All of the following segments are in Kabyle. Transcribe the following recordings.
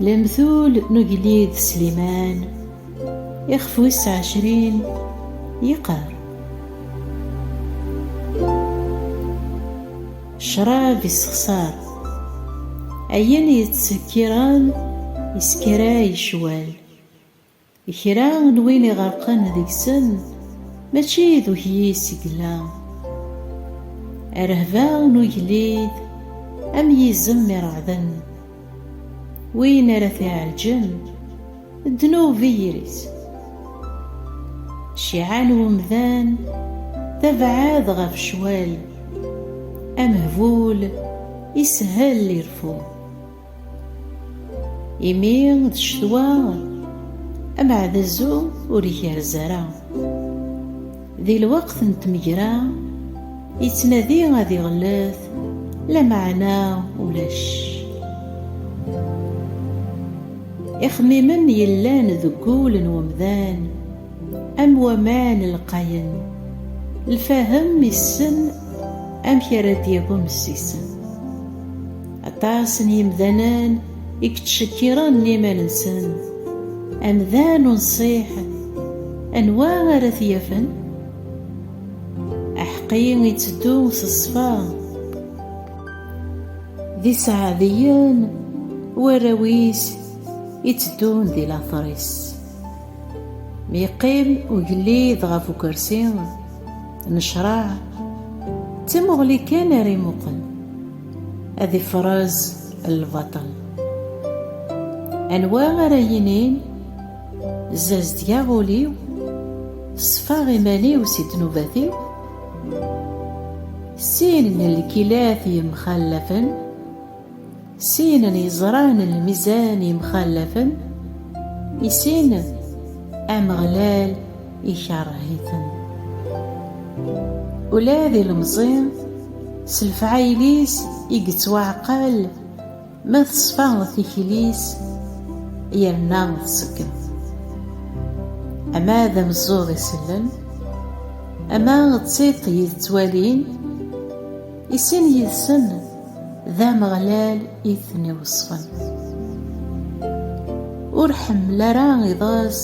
Lemtul n ugellid Sliman ixef wis ɛecrin yeqqar ccrab yessexṣar ayen yettsekkiren yesskaray ccwal Kra n win iɣerqen deg-sen mačči d ukyis i yella. Rrehba n ugellid am yizem ireɛden. Win ara t-iɛelǧen ddnub i yiri-s. Cciɛa n umdan tebɛed ɣef ccwal. Amehbul isehhel ireffu. Imi d ccetwa ameɛdazu ur igerrez ara. Di lweqt n tmegra yettnadi ad iɣellet lameɛna ulac. Ixemmimen yellan deg wul n umdan am waman lqayen, lfahem issen amek ara d-yagum s isem. Aṭas n yimdanen i yettcekkiren iman-nsen. Amdan unṣiḥ, anwa ara t-yafen? Aḥeqqi itteddu s ṣṣfa. D iseɛdiyen warraw-is itteddun di later-is. Mi yeqqim ugellid ɣef ukersi n ccṛeɛ, d tamuɣli kan ara imuqel. ad ifraz lbaṭel anwa ara yinin zazedgeɣ ul-iw ṣfaɣ iman-iw si ddnubat-iw sin n lkilat yemxallafen sin n yeẓran n lmizan yemxallafen i sin ameɣlal ikerreh-iten. Ula d ilemẓi s lefɛayel-is i yettwaɛqal ma teṣfa tikli-s yerna tṣeggem. Ama d ameẓẓuɣ isellen, ama d tiṭ yettwalin, I sin yid-sen d Ameɣlal i ten-iweṣṣfen. Ur ḥemmel ara iḍes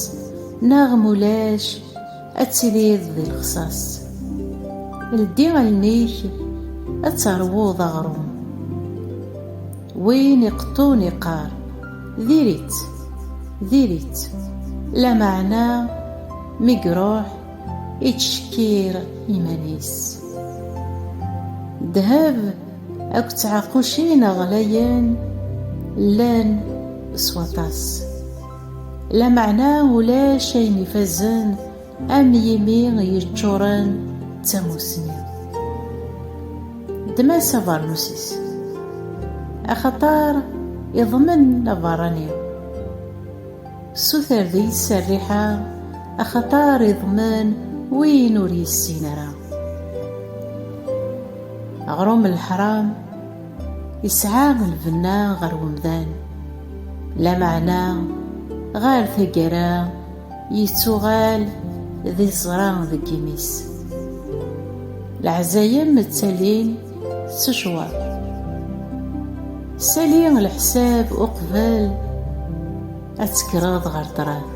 neɣ mulac ad tiliḍ di lexṣaṣ. Ldi allen-ik ad teṛwuḍ aɣrum. Win iqeṭṭun iqqar, diri-tt, diri-tt, lameɛna mi iṛuḥ, ittcekkir iman-is. Ddheb akked tɛaqucin ɣlayen llan s waṭas, lameɛna ulac ayen ifazen am yimi yeččuren d tamussni. Ddem-as abernus-is, axaṭer iḍmen abeṛṛani. Suter deg-s rriḥa, axaṭer iḍmen win ur yessin ara. Aɣrum n leḥram isɛa lbenna ɣer umdan, lameɛna ɣer taggara yettuɣal d iẓra deg imi-s. Leɛzayem ttalin Secwat. Sali leḥsab uqbel ad tekkreḍ ɣer ṭṭrad.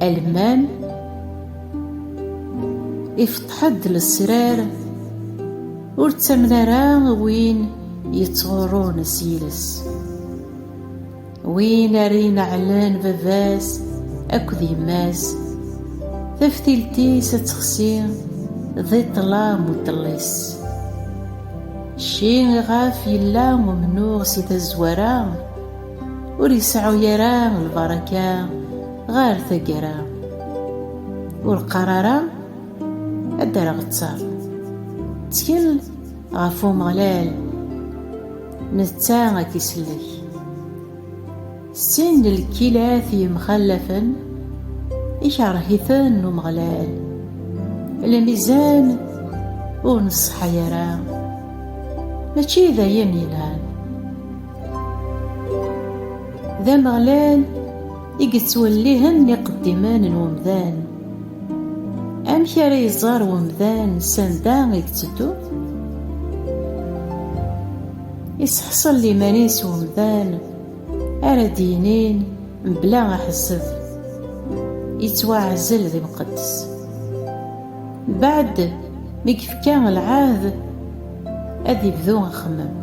Alman ifeṭṭeḥ-d lesrar ur ttamen ara win yettɣurrun s yiles. Win ara ineɛlen baba-s akked yemma-s, taftilt-is ad texsi di ṭṭlam u ṭṭellis. Cci iɣef yella umnuɣ si tazwara, ur iseɛɛu ara lbaraka ɣer taggara. Ur qqar ara ad d-rreɣ ttar. Ttkel! Ɣef Umeɣlal, netta ad k-isellek. Sin n lkilat yemxallafen, ikerh-iten Umeɣlal. Lmizan ur neṣṣeḥa ara, mačči d ayen yelhan. D Ameɣlal i yettwellihen iqeddimen n umdan. Amek ara iẓer umdan sanda i yetteddu? Iseḥṣel iman-is umdan ara d-yinin mebla aḥezzeb, yettwaɛzel d imqeddes. Mbeɛd mi yefka lɛahd ad ibdu axemmem.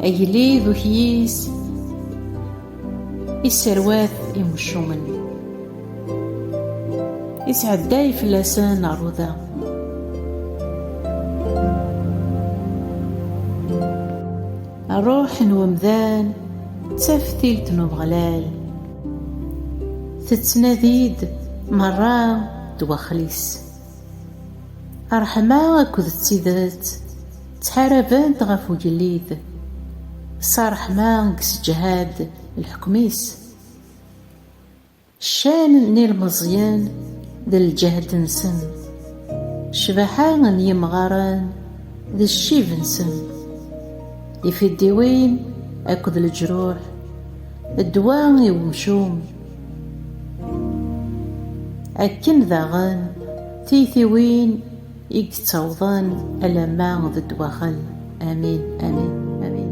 Agellid ukyis isserwat imcumen isɛedday fell-asen aruda. Ṛṛuḥ n umdan d taftilt n Umeɣlal, tettnadi-d meṛṛa ddwaxel-is. Ṛṛeḥma akked d tidet ttḥarabent ɣef ugellid, s ṛṛeḥma i yesseǧhad lḥekm-is. Ccan n yilmeẓyen d lǧehd-nsen, ccbaḥa n yimɣaren d ccib-nsen, ifiddiwin akked leǧruḥ, ddwa i wemcum. Akken daɣen tiytiwin i yettawḍen alamma d ddwaxel. Amin, amin, amin.